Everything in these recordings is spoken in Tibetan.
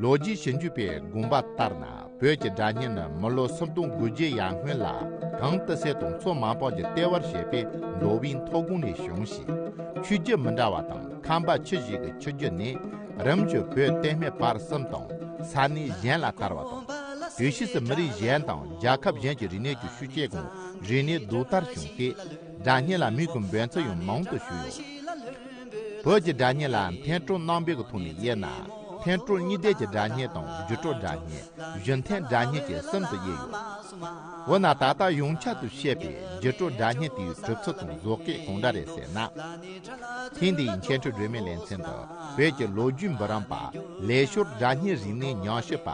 ལོ་རྒྱུས་ཞིབ་འཇུག་པས་དགོངས་པ་ལྟར་ན་བོད་ཀྱི་སྒྲ་སྙན་ནི་མི་ལོ་སུམ་སྟོང་དགུ་བརྒྱའི་ཡར་སྔོན་ལ་གངས་ཏི་སེ་དང་མཚོ་མ་པང་གི་ལྟེ་བར་བྱས་པའི་མདོ་དབྱིན་མཐོ་སྒང་ནས་བྱུང་ཞིང། ཆོས་བརྒྱུད་མི་འདྲ་བ་དང་ཁམས་པ་ཁྱུ་བཞི་གི་ཆོས་བརྒྱུད་ནི་རིམ་བྱོན་བོད་བསྟན་སྨད་བར་གསུམ་དང་ས་གནས་གཞན་ལ་དར་བ་དང། དུས་ཕྱིས་སུ་མི་རིགས་གཞན་དང་རྒྱལ་ཁབ་གཞན་གྱི་རིག་གནས་ཀྱི་ཤུགས་སྐྱེད་དགོངས་རིག་གནས་ལྡུག་ལྟར་བྱུང་སྟེ། སྒྲ་སྙན་ལ་མིག་གི་འབོད་ཚིག་ཡང་མང་དུ་བྱུང་ཡོད། བོད་ཀྱི་སྒྲ་སྙན་ལ་མཐའི་སྤྲོ་སྣང་དཔལ་གྱི་ཐོག་ནས་དབྱེ་ན། འཐེན་སྤྲོ་གཉིས་ལྡན་གྱི་སྒྲ་སྙན་དང་བརྒྱུད་སྤྲོ་སྒྲ་སྙན་བརྒྱུད་འཐེན་སྒྲ་སྙན་གྱི་གསུམ་དུ་དབྱེ་ཡོད། འོ་ན་ད་ལྟ་ཡོངས་ཁྱབ་ཏུ་བཤད་པའི་བརྒྱུད་སྤྲོ་སྒྲ་སྙན་དེའི་གྲུབ་ཚུལ་དང་བཟོ་སྐད་གང་འདྲ་རེད་ཟེར་ན། ཐེངས་འདིའི་མཁན་སྤྲུལ་སྒྲོལ་མའི་ལེ་ཚན་དུ་བོད་ཀྱི་ལོ་རྒྱུས་འབུམ་རམས་པ་ལས་ཤོར་སྒྲ་སྙན་རིག་གནས་ཉག་ཤོས་པ་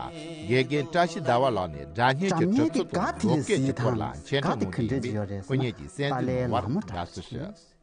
དགེ་རྒན་བཀྲ་ཤིས་ཟླ་བ་ལགས་ནས་སྒྲ་སྙན་གྱི་གྲུབ་ཚུལ་དང་བཟོ་སྐད་ཀྱི་སྐོར་ལ་མཁྱེན་གྲངས་ངོ་དེ་ཡིན་པས་སྐུ་ཉིད་ཀྱིས་གསན་གཟིགས་གནང་བར་དགའ་བསུ་ཞུ།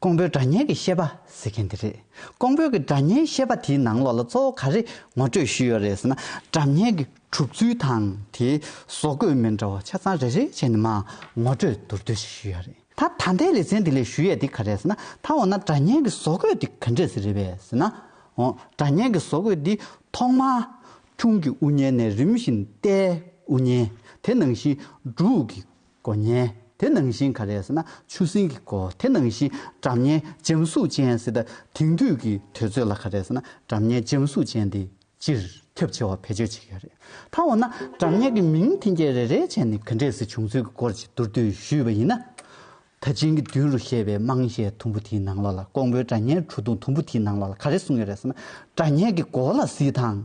ཀོང་པོའི་སྒྲ་སྙན་གྱི་ཤེས་པ་ཟེར་མཁན་དེ་རེད། ཀོང་པོའི་གི་སྒྲ་སྙན་ཤེས་པ་དེའི་ནང་ལོགས་ལ་གཙོ་བོ་ག་རེ་ངོ་སྤྲོད་ཞུས་ཡོད་རེད་ཟེར་ན་སྒྲ་སྙན་གྱི་གྲུབ་ཚུལ་དང་དེའི་བཟོ་བཀོད་མི་འདྲ་བ་ཆ་ཚང་རེ་རེ་བྱས་ནས་མ་ངོ་སྤྲོད་མདོར་བསྡུས་ཤིག་ཞུས་ཡོད་རེད། ད་ད་ལྟའི་ལེ་ཚན་འདི་ལས་ཞུ་ཡས་དེ་ག་རེད་ཟེར་ན་ད་འོ་ན་སྒྲ་སྙན་གྱི་བཟོ་བཀོད་དེ་ག་འདྲས་ཟེར་རེད་པས་ཟེར་ན། འོ་སྒྲ་སྙན་གྱི་བཟོ་བཀོད་འདི་ཐོག་མར། ཁྱུང་གི་དབུ་བརྙན་ནས་རིམ་བཞིན་རྟའི་དབུ་བརྙན་དེ་ནང་བཞིན་འབྲུག་གི་སྒོ་བརྙན། དེ་ནང་བཞིན་ག་རེ་ཟེར་ན་ཆུ་སྲིན་གྱི་སྒོ་དེ་ནང་བཞིན་དགྲ་གཉེན་འཇམ་གཟུགས་ཅན་ཟེར་ད་དེང་དུས་ཀྱི་དུས་ཚོད་ལ་ག་རེ་ཟེར་ན་དགྲ་གཉེན་འཇམ་གཟུགས་ཅན་དེ་སྤྱིར་ཁྱབ་ཆེ་བ་བེད་སྤྱོད་བྱེད་ཀྱི་རེད་ད་འོ་ན་དགྲ་གཉེན་གྱི་མིང་ཐེན་སྐྱེད་རེ་རེ་བྱས་ནས་ག་འདྲས་ཟེར་བྱུང་ཚུལ་གྱི་སྐོར་གྱི་མདོར་བསྡུས་ཞུས་པ་ཡིན་ན། ད་ཆིང་གི་དུས་རུ་བཤད་པའི་དམངས་གཞས་དུམ་བུ་དེའི་ནང་ལོགས་ལ་ཀོང་པོའི་དགྲ་གཉེན་བྲོ་བརྡུང་དུམ་བུ་དེའི་ནང་ལོགས་ལ་ག་རེ་གསུང་ཡོད་རེད་ཟེར་ན་དགྲ་གཉེན་གྱི་སྒོ་ལ་བསིལ་ཐང།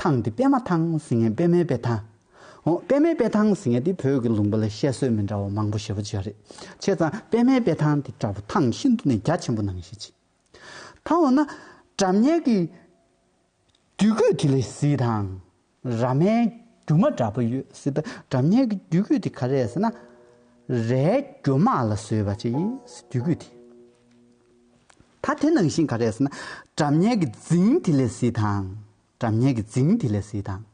ཐང་འདི་པད་མ་ཐང་ཟེར་ངན་པད་མའི་པད་ཐང། ཨོ་པད་མའི་པད་ཐང་ཟེར་ངན་དེ་བོད་ཀྱི་ལུང་པ་ལ་བཤད་སྲོལ་མི་འདྲ་བ་མང་པོ་ཞེ་བོ་བརྗོད་རེད་ཆེ་ཙང་པད་མའི་པད་ཐང་དེ་བྲག་ཕུག་ཐང་ཤིན་ཏུ་ནས་རྒྱ་ཆེན་པོ་ནང་བཞིན་མཆིས། ད་འོ་ན་དགྲ་གཉེན་གྱི་རྒྱུད་སྐུད་དེ་ལས་གཟི་དང་ར་མའི་རྒྱུ་མ་འདྲ་པོ་ཡོད་སྲིད་པས་དགྲ་གཉེན་གྱི་རྒྱུད་སྐུད་དེ་ག་རེད་ཟེར་ན། རའི་རྒྱུ་མ་ལ་བཟོས་པ་ཅིག་ཡིན་སྲིད་རྒྱུད་སྐུད་དེ། ད་དེ་ནང་བཞིན་ག་རེ་ཟེར་ན། དགྲ་གཉེན་གྱི་རྫིང་དེ་ལས་བཟི་དང། དགྲ་གཉེན་གྱི་རྫིང་དེ་ལས་བཟི་དང།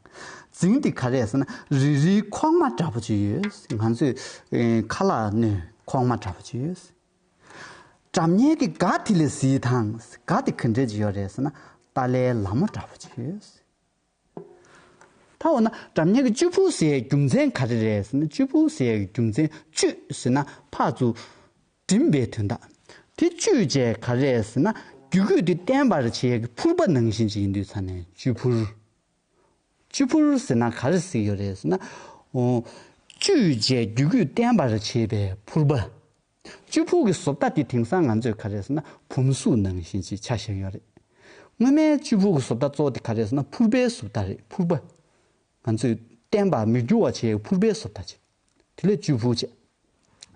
རྫིང་དེ་ག་རེ་ཟེར་ན་རི་རི་ཁོག་མ་འདྲ་པོ་ཅིག་ཡོད། ང་ཚོས་ཁ་ལག་སྣོད་ཁོག་མ་འདྲ་པོ་ཅིག་ཡོད། དགྲ་གཉེན་གྱི་སྒ་དེ་ལས་བཟི་དང། སྒ་དེ་ག་འདྲ་ཅིག་ཡོད་རེད་ཟེར་ན་ཏཱ་ལའི་ལ་མོ་འདྲ་པོ་ཅིག་ཡོད། ད་འོ་ན་གྲམ་ཉག་གི་གཅུས་ཕུག་ཟེར་ཡའི་རྒྱུ་མཚན་ག་རེ་རེད་ཟེར་ན་གཅུས་ཕུག་ཟེར་ཡའི་རྒྱུ་མཚན་གཅུས་ཟེར་ན་ཕག་ཚུགས། འགྲིམས་པའི་དོན་དག། དེ་གཅུས་བྱས་ག་རེད་ཟེར་ན་རྒྱུ་སྐུད་དེ་བརྟན་པར་བྱེད་ཡ་གི་ཕུར་པ་ནང་བཞིན་གཅིག་ཡིན་དུས་ཚར་ནས་གཅུས་ཕུར། གཅུས་ཕུར་ཟེར་ན་ག་རེ་གཟིགས་ཡོད་རེད་ཟེར་ན། གཅུས་བྱས་རྒྱུ་སྐུད་བརྟན་པར་བྱེད་པའི་ཕུར་པ། གཅུ་ཕུག་གི་བཟོ་ལྟ་དེ་དེང་སང་ང་ཚོས་ག་རེ་ཟེར་ན་བུམ་གཟུགས་ནང་བཞིན་ཅིག་ཆགས་བཞིན་ཡོད་རེད། སྔོན་མའི་གཅུ་ཕུག་གི་བཟོ་ལྟ་གཙོ་བོ་དེ་ག་རེ་ཟེར་ན་ཕུར་པའི་བཟོ་ལྟ་རེད་ཕུར་པ། ང་ཚོས་བསྟན་པ་མི་འགྱུར་བ་བྱེད་ཕུར་པའི་བཟོ་ལྟ་བྱེད། དེ་ལས་གཅུ་ཕུག་བྱེད།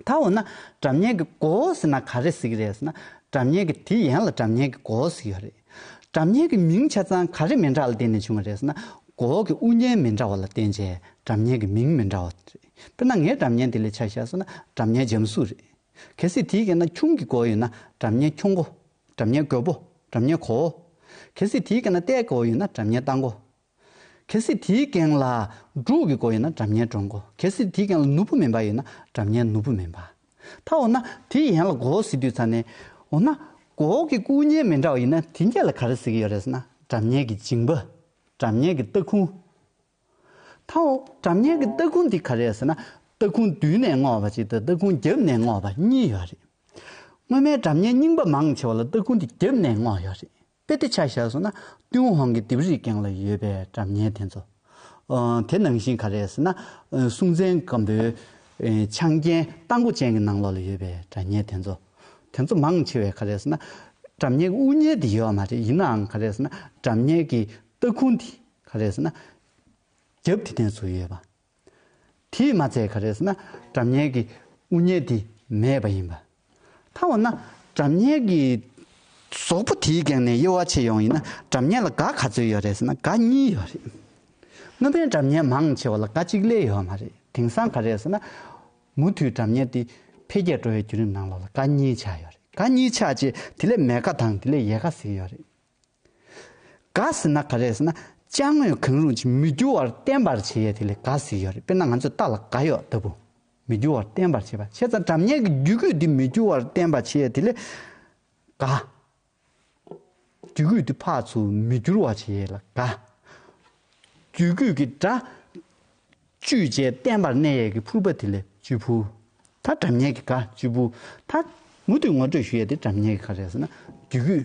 ད་འོ་ན་དགྲ་གཉེན་གྱི་མགོ་བོ་ཟེར་ན་ག་རེ་ཟེར་གྱི་རེད་ཟེར་ན་དགྲ་གཉེན་གྱི་དེ་ཡན་ལ་དགྲ་གཉེན་གྱི་མགོ་བོ་ཟེར་གྱི་ཡོད་རེད། དགྲ་གཉེན་གྱི་མིང་ཆ་ཚང་ག་རེ་མི་འདྲ་ལ་བརྟེན་ནས་བྱུང་བ་རེད་ཟེར་ན་མགོ་བོ་གི་དབུ་བརྙན་མི་འདྲ་བ་ལ་བརྟེན་བྱས་དགྲ་གཉེན་གྱི་མིང་མི་འདྲ་བ་རེད། དཔེར་ན་ངའི་དགྲ་གཉེན་དེ་ལས་ཆ་བཞག་སོང་ན་དགྲ་གཉེན་འཇམ་གཟུགས་རེད། གལ་སྲིད་དེའི་སྐེ་ན་ཁྱུང་གི་མགོ་ཡོད་ན་དགྲ་གཉེན་ཁྱུང་མགོ། དགྲ་གཉེན་རྒོད་པོ། དགྲ་གཉེན་གོ་བོ། གལ་སྲིད་དེའི་སྐེ་ན་རྟའི་མགོ་ཡོད་ན་དགྲ་གཉེན་རྟ་མགོ། གལ་སྲིད་དེའི་སྐེང་ལ་འབྲུག་གི་མགོ་ཡོད་ན་དགྲ་གཉེན་འབྲུག་མགོ། གལ་སྲིད་དེའི་སྐེང་ལ་ནུ་བོ་མེ་འབར་ཡོད་ན་དགྲ་གཉེན་ནུ་བོ་མེ་འབར། ད་འོ་ན་དེ་ཡན་ལ་མགོ་བོ་ཟེར་དུས་ཚར་ནས། འོ་ན། མགོ་བོ་གི་སྐུ་བརྙན་མི་འདྲ་བ་ཡིན་ན་དེ་འགའ་ལ་ག་རེ་ཟེར་གྱི་ཡོད་རེད་ཟེར་ན། དགྲ་གཉེན་གྱི་འཇིང་པ། དགྲ་གཉེན་གྱི་རྟ་ཁུང། ཐའོ། གྲམ་ངན་གྱི་སྟ་གུང་འདི་ག་རེད་ཟེར་ན། སྟ་གུང་མདུན་ནས་བསྔོགས་པ་གཅིག་དང་སྟ་གུང་རྒྱབ་ནས་བསྔོགས་པ་གཉིས་ཡོད་རེད། སྔོན་མའི་གྲམ་ངན་རྙིང་པ་མང་ཆེ་བ་ལ་སྟ་གུང་འདི་རྒྱབ་ནས་བསྔོགས་ཡོད་རེད། དཔེ་དེ་ཆ་བཞག་སོང་ན། ཏུན་ཧོང་གི་ལྡེབས་རིས་སྒང་ལ་ཡོད་པའི་གྲམ་ངན་དེ་ཚོ། དེ་ནང་བཞིན་ག་རེད་ཟེར་ན། སྲུང་བཙན་སྒམ་པོའི་ཆང་རྐྱེན་རྟ་མགོ་ཅན་གྱི་ནང་ལོགས་ལ་ཡོད་པའི་གྲམ་ངན་དེ་ཚོ། དེ་ཚོ་མང་ཆེ་བས་ག་རེད་ཟེར་ན། གྲམ་ངན་གྱི་དབུ་བརྙན་འདི་ཡོད་མ་རེད་ཡིན་ནའང་ག་རེད་ཟེར་ན་གྲམ་ངན་གྱི་སྟ་གུང་འདི་ག་རེ་ཟེར་ན། རྒྱབ་དེ་ནས་ཚུར་ཡོད་པ། དེས་མ་ཚད་ག་རེ་ཟེར་ན་དགྲ་གཉེན་གྱི་དབུ་བརྙེས་དེ་མེད་པ་ཡིན་པ། ཐ་འོ་ན་དགྲ་གཉེན་གྱི་ཟོག་པོ་དེའི་སྒེང་ནས་དབྱེ་བ་ཕྱེ་ཡོང་ཡིན་ན་དགྲ་གཉེན་ལ་དགའ་ག་ཚོད་ཡོད་རེད་ཟེར་ན་དགའ་གཉིས་ཡོད་རེད། དངོས་ཕན་དགྲ་གཉེན་མང་ཆེ་བ་ལ་དགའ་གཅིག་ལས་ཡོད་མ་རེད་དེང་སང་ག་རེ་ཟེར་ན། མུ་མཐུད་དགྲ་གཉེན་དེ་འཕེལ་རྒྱས་འགྲོ་བའི་བརྒྱུད་རིམ་ནང་ལོགས་ལ་དགའ་གཉིས་ཆགས་ཡོད་རེད་དགའ་གཉིས་ཆགས་རྗེས་དེ་ལས་མེད་ཁ་དང་དེ་ལས་ཡས་ཁ་ཟིག་ཡོད་རེད། ག་ཟེར་ན་ག་རེད་ཟེར་ན་དཔྱ་དངོས་གང་རུང་ཅིག་མི་འགྱུར་བར་བརྟན་པར་བྱེད་ཡས་དེ་ལས་ག་ཟེར་ཡོད་རེད་དཔེར་ན་ང་ཚོས་རྟ་ལ་ག་ཡོག་ལྟ་བུ། མི་འགྱུར་བར་བརྟན་པར་བྱེད་པ་བྱས་ཙང་གྲབས་ཉལ་གྱི་རྒྱུད་སྐུད་དེ་མི་འགྱུར་བར་བརྟན་པར་བྱེད་ཡས་དེ་ལས་ག། རྒྱུད་སྐུད་དེ་འཕགས་ཚུལ་མི་འགྱུར་བར་བྱེད་ཡས་ལ་ག། རྒྱུད་སྐུད་ཀྱི་སྒྲ། བཅུད་བཅས་བརྟན་པར་གནས་ཡས་ཀྱི་ཕུར་པ་དེ་ལས་བཅུད་ཕུར། མཐར་གྲབས་ཉལ་གྱི་ག་བཅུད་ཕུར་མཐར། མུ་མཐུད་ངོ་སྤྲོད་ཞུ་ཡས་དེ་གྲབས་ཉལ་གྱི་ག་རེད་ཟེར་ན་རྒྱུད་སྐུད།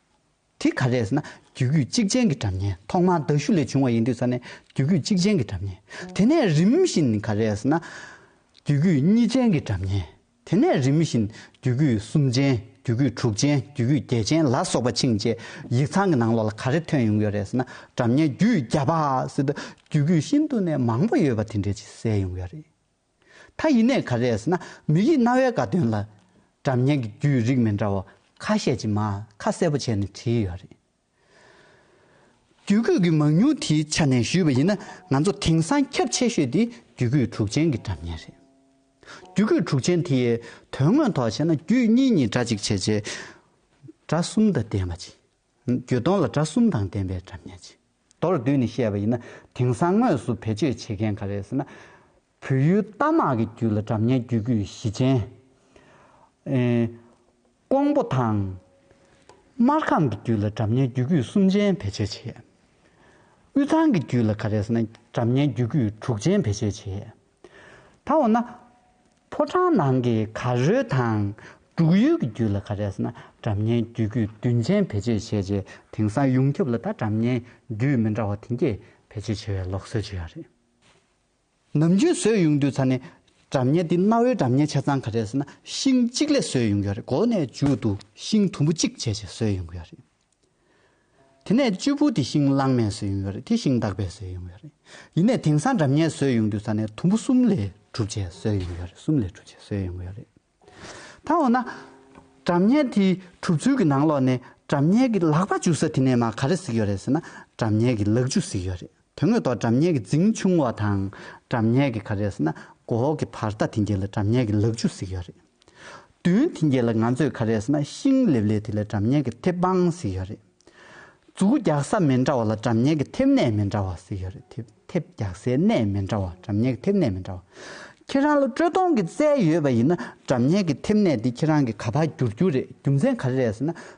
དེ་ག་རེད་ཟེར་ན་རྒྱུད་སྐུད་གཅིག་ཅན་གྱི་གྲབས་གཉན་ཐོག་མར་མདའ་གཞུ་ལས་བྱུང་བ་ཡིན་དུས་ས་ནས་རྒྱུད་སྐུད་གཅིག་ཅན་གྱི་གྲབས་གཉན། དེ་ནས་རིམ་བཞིན་ག་རེད་ཟེར་ན། རྒྱུད་སྐུད་གཉིས་ཅན་གྱི་གྲབས་གཉན། དེ་ནས་རིམ་བཞིན་རྒྱུད་སྐུད་གསུམ་ཅན་རྒྱུད་སྐུད་དྲུག་ཅན་རྒྱུད་སྐུད་བརྒྱད་ཅན་ལ་སོགས་པ་ཕྱིན་ཆད་ཡིག་ཚང་གི་ནང་ལོགས་ལ་ག་རེ་ཐོན་ཡོང་གི་ཡོད་རེད་ཟེར་ན་གྲབས་གཉན་རྒྱུད་བརྒྱ་པ། ཟེར་དུས་རྒྱུད་སྐུད་ཤིན་ཏུ་ནས་མང་པོ་ཡོད་པ་དེ་འདྲས་ཅིག་གསལ་ཡོང་གི་ཡོད་རེད། མཐའ་ཡི་གནད་ག་རེ་ཟེར་ན་མི་ཡི་རྣ་བའི་དགའ་སྟོན་ལ། སྒྲ་བརྙན་གྱི་རྒྱུད་རིགས་མི་འདྲ་བ་ཁ་ཤས་ཀྱིས་མ་ཁ་གསལ་པོ་བྱས་ནས་བྲིས་ཡོད་རེད། རྒྱུད་སྐུད་ཀྱི་མང་ཉུང་དེའི་ཆ་ནས་ཞུས་པ་ཡིན་ན་ང་ཚོ་དེང་སང་ཁྱབ་ཆེ་ཤོས་དེ་རྒྱུད་སྐུད་དྲུག་ཅན་གྱི་སྒྲ་བརྙན་རེད། རྒྱུད་སྐུད་དྲུག་ཅན་དེ་ཡི་དོན་དངོས་ཐོག་བཤད་ན་རྒྱུད་གཉིས་གཉིས་སྒྲ་གཅིག་བྱས་རྗེས། སྒྲ་གསུམ་དང་ལྡན་པ་གཅིག། འགྱོད་གདོང་ལ་སྒྲ་གསུམ་དང་ལྡན་པའི་སྒྲ་སྙན་ཅིང། མདོར་བསྡུས་ནས་བཤད་པ་ཡིན་ན་དེང་སང་དངོས་སུ་བེད་སྤྱོད་བྱེད་མཁན་ག་རེ་ཟེར་ན། བོད་ཡུལ་རྟ་དམག་གི་རྒྱུད་ལ་སྒྲ་སྙན་རྒྱུད་སྐུད་བཞི་ཅན། ཀོང་པོ་དང། སྨར་ཁམས་ཀྱི་རྒྱུད་ལ་སྒྲ་སྙན་རྒྱུད་སྐུད་གསུམ་ཅན་བེད་སྤྱོད་བྱེད། དབུས་གཙང་གི་རྒྱུད་ལ་ག་རེ་ཟེར་ན་སྒྲ་སྙན་རྒྱུད་སྐུད་དྲུག་ཅན་བེད་སྤྱོད་བྱེད། ད་འོ་ན། ཕོ་བྲང་ནང་གི་གར་རོལ་དང། འབྲུག་ཡུལ་གྱི་རྒྱུད་ལ་ག་རེ་ཟེར་ན་གྲབས་གཉན་རྒྱུད་རྒྱུད་བདུན་ཅན་བེད་སྤྱོད་བྱས་རྗེས་དེང་སང་ཡོངས་ཁྱབ་ལ་ད་གྲབས་གཉན་རྒྱུད་མི་འདྲ་བ་དེང་སྐྱེས་བེད་སྤྱོད་བྱེད་པའི་ལོག་སྲོལ་བྱུ་ཡ་རེད། ནམ་རྒྱུན་བཟོས་ཡོང་དུས་ཚ་ནས་གྲབས་གཉན་འདི་གནའ་བོའི་གྲབས་གཉན་ཆ་ཚང་ག་རེ་ཟེར་ན་ཤིང་གཅིག་ལས་བཟོས་ཡོང་གི་ཡ་རེད་གོ་གནས་མཇུག་ཏུ་ཤིང་དུམ་བུ་གཅིག་བྱས་རྗེས་བཟོས་ཡོང་གི་ཡ་རེད། དེ་ནས་གཅུས་བུ་དེ་ཤིང་གླང་མས་ཟོས་ཡོང་གི་རེད་དེ་ཤིང་བདག་པས་ཟོས་ཡོང་གི་རེད། ཡིན་ནས་དེང་སང་འདྲ་མཉེན་ཟོས་ཡོང་དུས་ས་ནས་དུམ་བུ་གསུམ་ལས་གྲུབ་བྱས་ཟོས་ཡོང་གི་རེད་གསུམ་ལས་གྲུབ་བྱས་ཟོས་ཡོང་གི་རེད། ད་འོ་ན། འདྲ་མཉེན་དེ་གྲུབ་ཚུལ་གྱི་ནང་ལོགས་ནས་འདྲ་མཉེན་གྱི་ལག་པ་འཇུ་ས་དེ་ནས་མ་ག་རེ་གཟིགས་ཡོད་རེད་ཟེར་ན་འདྲ་མཉེན་གྱི་ལག་འཇུ་གཟིགས་ཡོད་རེད། དོན་དངོས་ཐོག་དྲ་བརྙན་གྱི་རྫིང་ཆུང་བ་དང་དྲ་བརྙན་གྱི་ཁ་རས་ཟེར་ན་གོ་འོག་གི་བར་ཐག་དེ་འགྱེལ་ལ་དྲ་བརྙན་གྱི་ལག་ཆུ་ཟིག་ཡོད་རེད། བདུན་དེ་འགྱེལ་ལ་ང་ཚོས་ཁ་རས་ཟེར་ན་ཤིང་ལེབ་ལེབ་དེ་ལས་དྲ་བརྙན་གྱི་ཐེབས་དཔང་ཟིག་ཡོད་རེད། འཛུགས་རྒྱག་ས་མི་འདྲ་བ་ལ་དྲ་བརྙན་གྱི་ཐེབས་གནས་མི་འདྲ་བ་ཟིག་ཡོད་རེད་དེ་ཐེབས་རྒྱག་སའི་གནས་མི་འདྲ་བ་དྲ་བརྙན་གྱི་ཐེབས་གནས་མི་འདྲ་བ། ཁྱེད་རང་ལ་དཀྲོལ་གཏོང་གི་རྩལ་ཡོད་པ་ཡིན་ན་དྲ་བརྙན་གྱི་ཐེབས་གནས་དེ་ཁྱེད་རང་གི་ག་བར་བསྒྱུར་རྒྱུ་རེད་རྒྱུ་མཚན་ག་རེ་རེད་ཟེར་ན་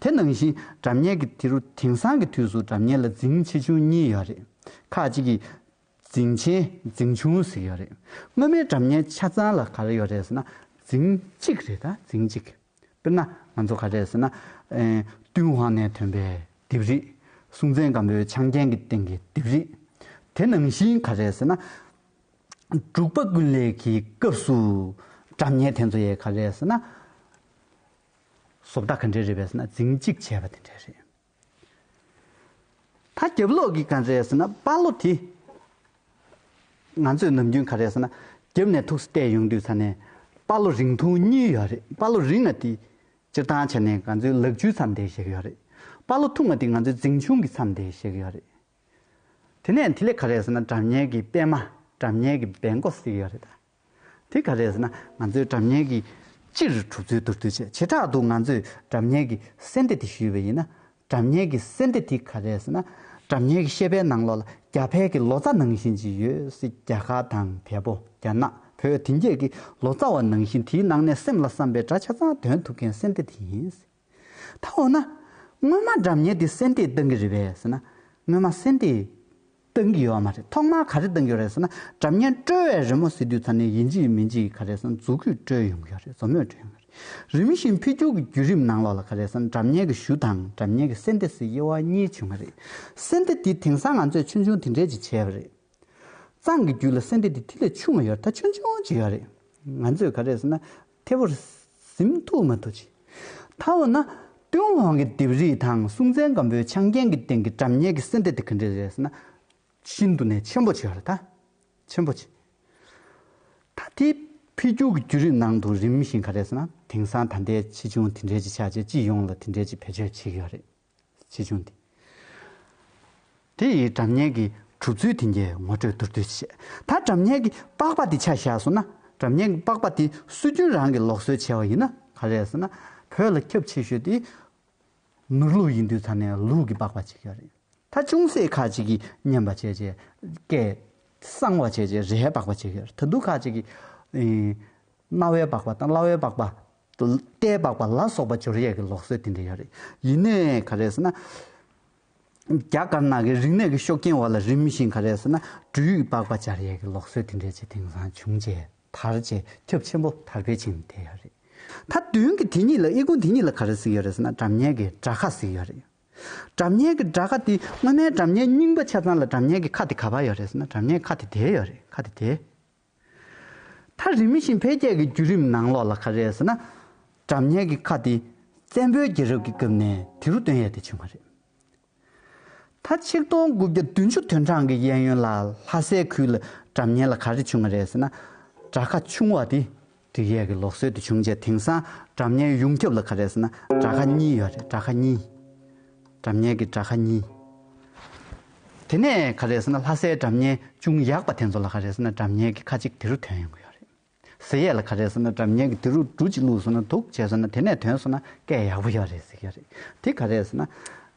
དེ་ནང་བཞིན་དགྲ་གཉེན་གྱི་དེ་རུ་དེང་སང་གི་དུས་སུ་དགྲ་གཉེན་ལ་རྫིང་ཆེ་ཆུང་གཉིས་ཡོད་རེད། ཁག་ཅིག་གིས། རྫིང་ཆེན་རྫིང་ཆུང་ཟེར་ཡོད་རེད། སྔོན་མའི་དགྲ་གཉེན་ཆ་ཚང་ལ་ག་རེ་ཡོད་རེད་ཟེར་ན། རྫིང་གཅིག་རེད་ད་རྫིང་གཅིག། དཔེར་ན་ང་ཚོ་ག་རེད་ཟེར་ན། ཏུན་ཧོང་ནས་ཐོན་པའི་དིབ་རིས། སྲུང་བཙན་སྒམ་པོའི་ཆང་རྐྱེན་གྱི་སྟེང་གི་དིབ་རིས། དེ་ནང་བཞིན་ག་རེད་ཟེར་ན། འབྲུག་པ་ཀུན་ལེགས་ཀྱི་སྐབས་སུ་དགྲ་གཉེན་དེ་ཚོ་ཡས་ག་རེད་ཟེར་ན། བཟོ་ལྟ་ག་འདྲའི་རེད་བས་ཟེར་ན་རྫིང་གཅིག་བྱས་པ་དེ་འདྲའི་རེད། ད་རྒྱབ་ལོག་གི་ག་འདྲའི་ཟེར་ན་དཔའ་ལོ་དེ། ང་ཚོས་ནམ་རྒྱུན་ག་རེ་ཟེར་ན་རྒྱབ་ནས་ཐུགས་སུ་བལྟས་ཡོང་དུས་ས་ནས་དཔའ་ལོ་རིང་ཐུང་གཉིས་ཡོད་རེད་དཔའ་ལོ་རིང་བ་དེ། སྤྱིར་བཏང་བྱས་ནས་ང་ཚོའི་ལག་འཇུའི་མཚམས་དེ་ཞིག་ཡོད་རེད། དཔའ་ལོ་ཐུང་བ་དེ་ང་ཚོའི་རྫིང་ཆུང་གི་མཚམས་དེ་ཞིག་ཡོད་རེད། དེ་ནས་དེ་ལས་ག་རེ་ཟེར་ན་དགྲ་གཉེན་གྱི་པད་མ་དགྲ་གཉེན་གྱི་སྦལ་མགོ་ཟིག་ཡོད་རེད་ད། དེ་ག་རེད་ཟེར་ན་ང་ཚོའི་གྲབས་གཉེར་གྱི་སྤྱིར་གྲུབ་ཚུལ་བསྡུར་དུས་ཆེས་ཆེ་དྲག་ཏུ་ང་ཚོས་གྲབས་གཉེར་གྱི་གསལ་འདེབས་དེ་ཞུས་པ་ཡིན་ན། གྲབས་གཉེར་གྱི་གསལ་འདེབས་དེ་ག་རེད་ཟེར་ན། གྲབས་གཉེར་གྱི་ཤེས་དཔལ་ནང་ལོགས་ལ་རྒྱ་བལ་གྱི་ལོ་ཙཱ་ནང་བཞིན་གྱི་ཡོད་སྲིད་རྒྱ་གར་དང་བལ་པོ་རྒྱ་ནག་བོད་དེང་རྒྱལ་གྱི་ལོ་ཙཱ་བ་ནང་བཞིན་དེའི་ནང་ནས་སེམས་ལ་བསམ་པའི་སྒྲ་ཆ་ཚང་འདོན་ཐུབ་མཁན་གསལ་འདེབས་དེ་ཡིན་སྲིད། ད་འོ་ན། སྔོན་མ་སྒྲ་མཉན་དེ་སེམས་སྡེས་སྟོན་གྱི་རེད་བས་ཟེར་ན། སྔོན་མ་སེམས་སྡེས། སྟོན་གྱི་ཡོད་བ་མ་རེད་ཐོག་མར་ག་རེ་སྟོན་གྱི་ཡོད་རེད་ཟེར་ན་སྒྲ་མཉན་དཀྲོལ་བའི་རི་མོ་གཟིགས་དུས་ཚར་ནས་ཡིན་གྱི་མིན་གྱི་ག་རེ་ཟེར་ན་རྫུ་གུས་དཀྲོལ་ཡོང་གི་ཡོད་རེད་རྫུ་མོས་དཀྲོལ་ཡོང་གི་རེད། རིམ་བཞིན་འཕེལ་འགྱུར་གྱི་བརྒྱུད་རིམ་ནང་ལོགས་ལ་ག་རེ་ཟེར་ན་སྒྲ་མཉན་གྱི་གཞུ་དང་སྒྲ་མཉན་གྱི་སེམས་སྡེ་སའི་དབྱེ་བ་གཉིས་བྱུང་བ་རེད། སེམས་སྡེ་དེ་དེང་སང་ང་ཚོས་ཆུང་ཆུང་དེ་འདྲས་ཅིག་བྱས་པ་རེད། གཙང་གི་རྒྱུད་ལ་སེམས་སྡེ་དེ་དེ་ལས་ཆུང་བ་ཡོད་རེད་ད་ཆུང་ཆུང་ཅིག་ཡོད་རེད། ང་ཚོས་ག་རེ་ཟེར་ན། མཐེ་བོར་གཟིམ་ཐུགས་མ་དུ་བྱས། མཐའ་འོ་ན། ཏུན་ཧོང་གི་ལྡེབས་རིས་དང་སྲུང་བཙན་སྒམ་པོའི་ཆང་རྐྱེན་གྱི་སྟེང་གི་བྲམ་ཉེ་གི་སེ་འབྲས་དེ་ག་འདྲས་རེད་ཟེར་ན། ཤིན་ཏུ་ནས་ཆེན་པོ་ཆེ་བ་རེད་ད། ཆེན་པོ་ཆེ། ད་ལྟའི་འཕེལ་རྒྱུག་གི་བརྒྱུད་རིམ་ནང་དུ་རིམ་བཞིན་ག་རེད་ཟེར་ན་དེང་སང་ད་ལྟའི་ཕྱི་འབྱུང་དེ་འདྲས་ཀྱི་ཆ་བྱད་སྤྱི་ཡོངས་ལ་དེ་འདྲས་ཀྱི་བེད་སྤྱོད་བྱེད་ཀྱི་ཡོད་རེད། ཞེས་འབྱུང་སྟེ། དེ་ཡི་གྲབས་གཉན་གྱི་གྲུབ་ཚུལ་དེ་ཉིད་ངོ་སྤྲོད་མདོར་བསྡུས་བྱས་མཐར་གྲབས་གཉན་གྱི་པགས་པ་དེ་ཆ་བཞག་སོང་ན། གྲབས་གཉན་གྱི་པགས་པ་དེ་སྲོལ་རྒྱུན་རང་གིས་ལོག་སྲོལ་བྱས་པ་ཡིན་ན་ག་རེ་ཟེར་ན། བོད་ལ་ཁྱབ་ཆེ་ཤོས་དེ། ནུར་ལུག་ཡིན་དུས་ཚར་ནས་ལུག་གི་པགས་པ་བྱེད་ཀྱི་རེད། ད་ཅུང་ཟད་ཁ་ཅིག་གིས་མཉེན་པ་བྱས་རྗེས་སྐད། གསང་བ་བྱས་རྗེས་རའི་པགས་པ་བྱེད་ཀྱི་རེད་ད་དུང་ཁ་ཅིག་གིས། རྣ་བའི་པགས་པ་དང་བརླ་བའི་པགས་པ་དུ་ལྟས་སྦགས་པ་ལ་སོགས་པ་སྦྱོར་ཡས་ཀྱི་ལོག་སྲེད་དེ་འདྲ་ཡོད་རེད། ཡིན་ནས་ག་རེ་ཟེར་ན། རྒྱ་དཀར་ནག་གི་རིག་གནས་ཀྱི་ཤོག་རྐྱེན་འོག་ལ་རིམ་བཞིན་ག་རེ་ཟེར་ན་སྦྲུལ་ཡིག་སྦགས་པ་སྦྱར་ཡས་ཀྱི་ལོག་སྲེད་དེ་འདྲའི་ཆེ་དེང་སང་བྱུང་རྗེས་དར་རྗེས་ཁྱབ་ཆེན་པོ་དར་འཕེལ་ཕྱིན་བསྡད་ཡོད་རེད། མཐའ་དོན་གྱི་དེ་གཉིས་ལ་དབྱེ་ཁུངས་དེ་གཉིས་ལ་ག་རེ་གཟིགས་ཡོད་རེད་ཟེར་ན་གྲབས་ཉལ་གྱི་དགྲ་ཁ་གཟིགས་ཡོད་རེད། གྲབས་ཉལ་གྱི་དགྲ་ཁ་དེ་སྔོན་མའི་གྲབས་ཉལ་རྙིང་པ་ཆ་ཚང་ལ་གྲབས་ཉལ་གྱི་ཁ་དེ་ག་བར་ཡོད་རེད་ཟེར་ན་གྲབས་ཉལ་གྱི་ཁ་དེ་དེ་ཡོད་རེད་ཁ་དེ་དེ། མཐར་རིམ་བཞིན་འཕེལ་རྒྱས་ཀྱི་བརྒྱུད་རིམ་ནང་ལོགས་ལ་ཁ་རས་ཟེར་ན། གྲབས་ཉལ་གྱི་ཁ་དེ་བཙན་པོའི་རྒྱལ་རབས་ཀྱི་སྐབས་ནས་དེ་རུ་དོན་ཡལ་ཏེ་བྱུང་བ་རེད། མཐར་ཆིག་སྟོང་དགུ་བརྒྱ་བདུན་ཅུ་དོན་གྲངས་ཀྱི་གཡས་གཡོན་ལ་ལྷ་སའི་ཁུལ་ལ་གྲབས་ཉལ་ལ་ག་རེ་བྱུང་བ་རེད་ཟེར་ན། བྲག་ཁ་ཆུང་བ་དེ་སྒྲིག་ཡས་ཀྱི་ལོག་སྲོལ་དེ་བྱུང་རྗེས་དེང་སང་སྒྲ་བརྙན་ཡོངས་ཁྱབ་ལ་ག་རེ་ཟེར་ན་སྒྲ་ཁ་གཉིས་ཡོད་རེད་སྒྲ་ཁ་གཉིས། སྒྲ་བརྙན་གྱི་སྒྲ་ཁ་གཉིས། དེ་ནས་ག་རེ་ཟེར་ན་ལྷ་སའི་སྒྲ་བརྙན་ཅུང་ཡག་པ་དེ་ཚོ་ལ་ག་རེ་ཟེར་ན་སྒྲ་བརྙན་གྱི་ཁ་ཅིག་དེ་རུ་དོན་ཡོང་གི་ཡོད་རེད། ཟེར་ཡས་ལ་ག་རེ་ཟེར་ན་སྒྲ་བརྙན་གྱི་དེ་རུ་འབྲུ་གཅིག་བླུགས་སོང་ན་འདུག་བྱས་སོང་ན་དེ་ནས་དོན་སོང་ན་སྐད་ཡག་པོ་ཡོད་རེད་ཟེར་གྱི་ཡོད་རེད། དེ་ག་རེ་ཟེར་ན་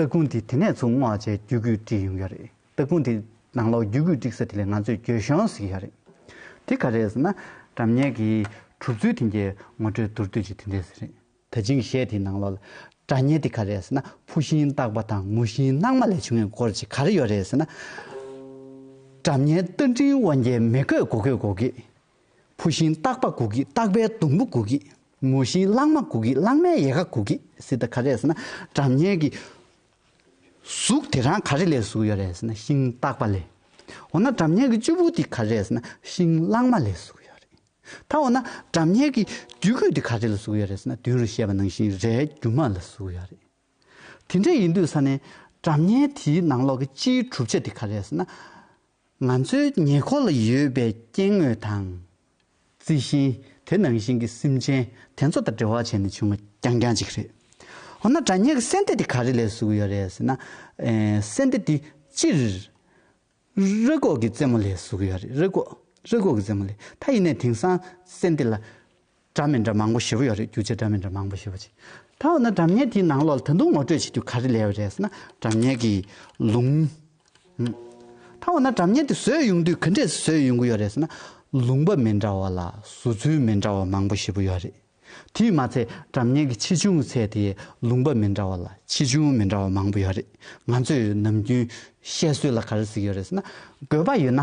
སྟ་གོན་དེ་དེ་ནས་ཚུར་སྔོག་བྱས་རྒྱུ་གུས་དཀྲིས་ཡོང་གི་རེད་སྟ་གོན་དེ་ནང་ལོག་རྒྱུ་གུས་དཀྲིས་ས་དེ་ལས་ང་ཚོས་འགྱོད་གཞོང་བཟོས་ཀྱི་ཡོད་རེད། དེ་ག་རེད་ཟེར་ན་གྲབས་ཉལ་གྱི་གྲུབ་ཚུལ་དེ་འདྲའི་ངོ་སྤྲོད་མདོར་བསྡུས་ཀྱི་དེ་འདྲས་ཟེར་རེད། ད་ཅིང་གཞས་དེའི་ནང་ལོག་ལ་གྲབས་ཉལ་དེ་ག་རེད་ཟེར་ན་ཕུ་ཤིང་བཏགས་པ་དང་ངུ་ཤིང་སྣང་མ་ལས་བྱུང་བའི་སྐོར་ཅིག་ག་རེ་ཡོད་རེད་ཟེར་ན། གྲབས་ཉལ་རྟ་མགྲིན་དབང་རྒྱལ་མི་དགོས་གོ་གོས་གོ་གིས། ཕོ་བཞིན་སྟག་པ་གུག་གིས་སྟག་པའི་སྡོང་བུ་གུག་གིས། མོ་བཞིན་གླང་མ་གུག་གིས་གླང་མའི་ཡལ་ག་གུག་གིས་ཟེར་ད་ག་རེ་ཟེར་ན་སྒྲ་སྙན་གྱི་གཟུགས་དེ་རང་ག་རེ་ལས་གཟུགས་ཡོད་རེ་ཟེར་ན་ཤིང་སྟག་པ་ལས། འོ་ན་སྒྲ་སྙན་གྱི་བཅུ་བོ་དེ་ག་རེ་ཟེར་ན་ཤིང་གླང་མ་ལས་གཟུགས་ཡོད་རེད། ད་འོ་ན་སྒྲ་སྙན་གྱི་རྒྱུད་སྐུད་དེ་ག་རེ་ལས་གཟུགས་ཡོད་རེ་ཟེར་ན་མདུན་རུ་བཤད་པ་ནང་བཞིན་རའི་རྒྱུ་མ་ལས་གཟུགས་ཡོད་རེད། དེ་འདྲ་ཡིན་དུས་ས་ནས་སྒྲ་སྙན་དེའི་ནང་ལོགས་ཀྱི་སྤྱིའི་གྲུབ་ཆ་དེ་ག་རེ་ཟེར་ན། ང་ཚོའི་ཉེ་འཁོར་ལ་ཡོད་པའི་སྐྱེ་དངོས་དང། རྩི་ཤིང་དེ་ནང་བཞིན་གྱི་སེམས་ཅན་དེ་ཚོ་དང་འབྲེལ་བ་བྱས་ནས་བྱུང་བ་རྐྱང་རྐྱང་ཅིག་རེད། འོ་ན་དྲ་ཉེ་གི་སྲན་ཏེ་དེ་ག་རེ་ལས་བཟོས་ཀྱི་ཡོད་རེད་ཟེར་ན། སྲན་ཏེ་དེ་སྤྱིར་རུས་ཀོག་གི་རྩེ་མོ་ལས་བཟོས་ཀྱི་ཡོད་རེད་རུས་ཀོག་རུས་ཀོག་གི་རྩེ་མོ་ལས། ད་ཡིན་ནས་དེང་སང་སྲན་ཏེ་ལ་སྒྲ་མི་འདྲ་མང་པོ་ཞིག་ཡོད་རེད་རྒྱུ་ཆ་སྒྲ་མི་འདྲ་མང་པོ་ཞིག་ཡོད་རེད། ད་འོ་ན་སྒྲ་མྱེད་དེའི་ནང་ལོགས་ལ་ད་དུང་ངོ་སྤྲོད་བྱེད་རྒྱུ་ག་རེ་ལས་ཡོད་རེད་ཟེར་ན་སྒྲ་མྱེད་ཀྱི་ལུང། ད་འོ་ན་སྒྲ་མྱེད་དེ་བཟོས་ཡོང་དུས་ག་འདྲས་སུ་བཟོས་ཡོང་གི་ཡོད་རེད་ཟེར་ན་ལུང་པ་མི་འདྲ་བ་ལ་བཟོ་ཚུལ་མི་འདྲ་བ་མང་པོ་ཞིག་ཡོད་རེད། དེས་མ་ཚད་སྒྲ་མྱེད་ཀྱི་ཆེ་ཆུང་ཚད་དེ་ལུང་པ་མི་འདྲ་བ་ལ་ཆེ་ཆུང་མི་འདྲ་བ་མང་པོ་ཡོད་རེད། ང་ཚོས་ནམ་རྒྱུན་བཤད་སྲོལ་ལ་ག་རེ་ཟེར་གྱི་ཡོད་རེད་ཟེར་ན་དགོས་པ་ཡོད་ན།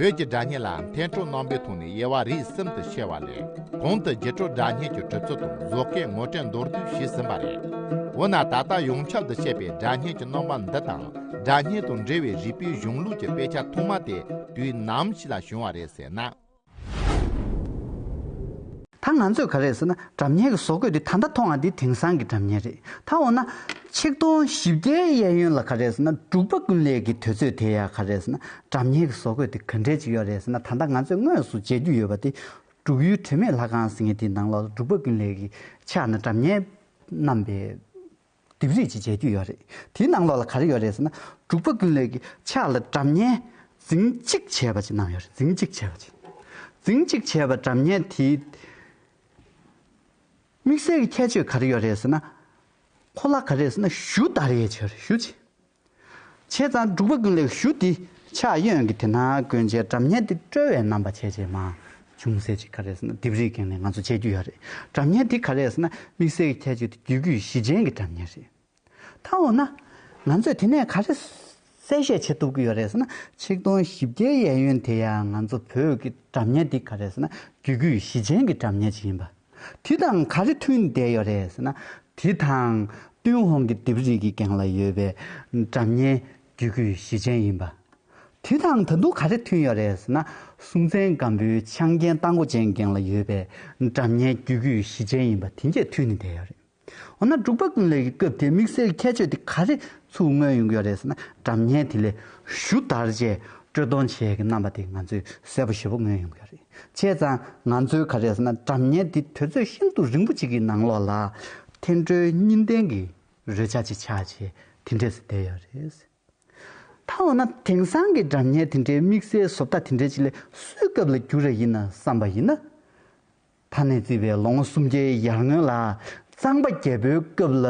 བོད་ཀྱི་སྒྲ་སྙན་ལའང་ཐན་ཕྲུག་རྣོན་པོའི་ཐོག་ནས་དབྱེ་བ་རིས་གསུམ་དུ་ཕྱེ་བ་ལས་གོང་དུ་རྗེ་ཁྲོ་སྒྲ་སྙན་གྱི་གྲུབ་ཚུལ་དང་བཟོ་སྐལ་ངོ་སྤྲད་མདོར་བསྡུས་བྱས་ཟིན་པ་རེད། འོ་ན་ད་ལྟ་ཡོངས་ཁྱབ་ཏུ་བཤད་པའི་སྒྲ་སྙན་གྱི་རྣོན་པ་འདི་དང་སྒྲ་སྙན་དང་འབྲེལ་བའི་རིགས་པའི་གཞུང་ལུགས་ཀྱི་དཔེ་ཆ་ཐོག་མ་དེ་དུས་ནམ་ཞིག་ལ་བྱུང་བ་རེད་ཟེར་ན། ད་ང་ཚོས་ག་རེ་ཟེར་ན་གྲབས་ཉེས་ཀྱི་བཟོ་བཀོད་དེ་ད་ལྟ་མཐོང་བ་འདི་དེང་སང་གི་གྲབས་ཉེས་རེད་ད་འོ་ན། ཆིག་སྟོང་བཞི་བརྒྱའི་གཡས་གཡོན་ལ་ག་རེ་ཟེར་ན་འབྲུག་པ་ཀུན་ལེགས་ཀྱི་དུས་ཚོད་དེ་ཡང་ག་རེ་ཟེར་ན་གྲབས་ཉེས་ཀྱི་བཟོ་བཀོད་དེ་ག་འདྲས་ཅིག་ཡོད་རེད་ཟེར་ན་ད་ལྟ་ང་ཚོས་དངོས་སུ་མཇལ་རྒྱུ་ཡོད་པ་དེ། འབྲུག་ཡུལ་དྲི་མེད་ལྷ་ཁང་ཟེར་ངེས་དེའི་ནང་ལོགས་སུ་འབྲུག་པ་ཀུན་ལེགས་ཀྱི་ཕྱག་ན་གྲབས་ཉེས་བསྣམས་པའི། ལྡེབས་རིས་ཀྱི་མཇལ་རྒྱུ་ཡོད་རེད། དེའི་ནང་ལོགས་ལ་ག་རེ་ཡོད་རེད་ཟེར་ན། འབྲུག་པ་ཀུན་ལེགས་ཀྱི་ཕྱག་ལ་གྲབས་བརྙན་རྫིང་གཅིག་བྱས་པ་ཅིག་གནང་ཡོད་རེད་རྫིང་གཅིག་བྱས་པ་ཅིག། རྫིང་གཅིག་བྱས་པ་གྲབས་བརྙན་དེའི་དམིགས་བསལ་གྱི་ཁྱད་ཆོས་ག་རེ་ཡོད་རེད་ཟེར་ན། ཁོ་ལ་ག་རེ་ཟེར་ན་གཞུ་བདར་ཡས་བྱས་རེད་གཞུ་བྱས། བྱས་ཙང་འབྲུག་པ་ཀུན་ལེགས་བཞུ་འདི་ཕྱག་གཡོན་གྱི་དེ་ན་གོན་བྱའི་གྲབས་བསྙེན་འདི་བཀྲོལ་བའི་རྣམ་པ་བྱས་རྗེས་མ་བྱུང་ཟེར་ཅིག་ག་རེ་ཟེར་ན་ལྡེབས་རིས་འགེངས་ནས་ང་ཚོ་བྱས་རྒྱུ་ཡོད་རེད་གྲབས་བསྙེན་འདི་ག་རེ་ཟེར་ན་དམིགས་བསལ་གྱི་ཁྱད་ཆོས་དེ་རྒྱུད་རྒྱུད་བཞི་ཅན་གྱི་གྲབས་བསྙེན་རེད། ད་འོ་ན། ང་ཚོས་དེ་ནས་ག་རེ་གསལ་བཤད་བྱེད་ཐུབ་ཀྱི་ཡོད་རེད་ཟེར་ན་ཆིག་སྟོང་བཞི་བརྒྱའི་གཡས་གཡོན་དེ་ཡང་ང་ཚོ་བོད་ཀྱི་གྲབས་བསྙེན་འདི་ག་རེ་ཟེར་ན་རྒྱུད་རྒྱུད་བཞི་ཅན་གྱི་གྲབས་བསྙེན་ཅིག་ཡིན་པ། དེ་དང་ག་རེ་མཐུན་བསྡད་ཡོད་རེད་ཟེར་ན། དེ་དང་ཏུན་ཧོང་གི་ལྡེབས་རིས་ཀྱི་གན་ལ་ཡོད་པའི་འདྲ་མཉེན་རྒྱུད་སྐུད་བཞི་ཅན་ཡིན་པ། དེ་དང་ད་དུང་ག་རེ་མཐུན་ཡོད་རེད་ཟེར་ན། སྲུང་བཙན་སྒམ་པོའི་ཆང་རྒྱན་རྟ་མགོ་ཅན་གན་ལ་ཡོད་པའི་འདྲ་མཉེན་རྒྱུད་སྐུད་བཞི་ཅན་ཡིན་པ་དེ་འགས་མཐུན་ནས་བསྡད་ཡོད་རེད། འོ་ན་འབྲུག་པ་ཀུན་ལས་ཀྱི་སྐབས་དེའི་དམིགས་བསལ་ཁྱད་ཆོས་དེ་ག་རེ་ཚུགས་མངོན་ཡོང་གི་རེད་ཟེར་ན་དྲ་བརྙན་དེ་ལས་ཞུ་དར་རྗེས་དཀྲོལ་གཏོང་བྱས་ཀྱི་རྣམ་པ་དེ་ང་ཚོས་གསལ་པོ་ཞེ་པོ་མངོན་ཡོང་གི་རེད། བྱས་ཙང་ང་ཚོས་ག་རེ་ཟེར་ན་དྲ་བརྙན་དེ་དུས་ཚོད་ཤིན་ཏུ་རིང་པོ་ཅིག་གི་ནང་ལོགས་ལ། འཐེན་འཁྲོལ་གཉིས་ལྡན་གྱི་རོལ་ཆ་ཅིག་ཆགས་རྗེས་དེ་འདྲས་སུ་བསྡད་ཡོད་རེད། ད་འོ་ན་དེང་སང་གི་སྒྲ་བརྙན་དེ་འདྲའི་དམིགས་བསལ་བཟོ་ལྟ་དེ་འདྲའི་ཅིག་ལས་སུའི་སྐབས་ལ་འགྱུར་ར་ཡིན་ན་བསམ་པ་ཡིན། ད་ནས་བརྩིས་པའི་ལོ་ངོ་སུམ་བརྒྱའི་ཡར་སྔོན་ལ་གཙང་པ་རྒྱལ་པོའི་སྐབས་ལ་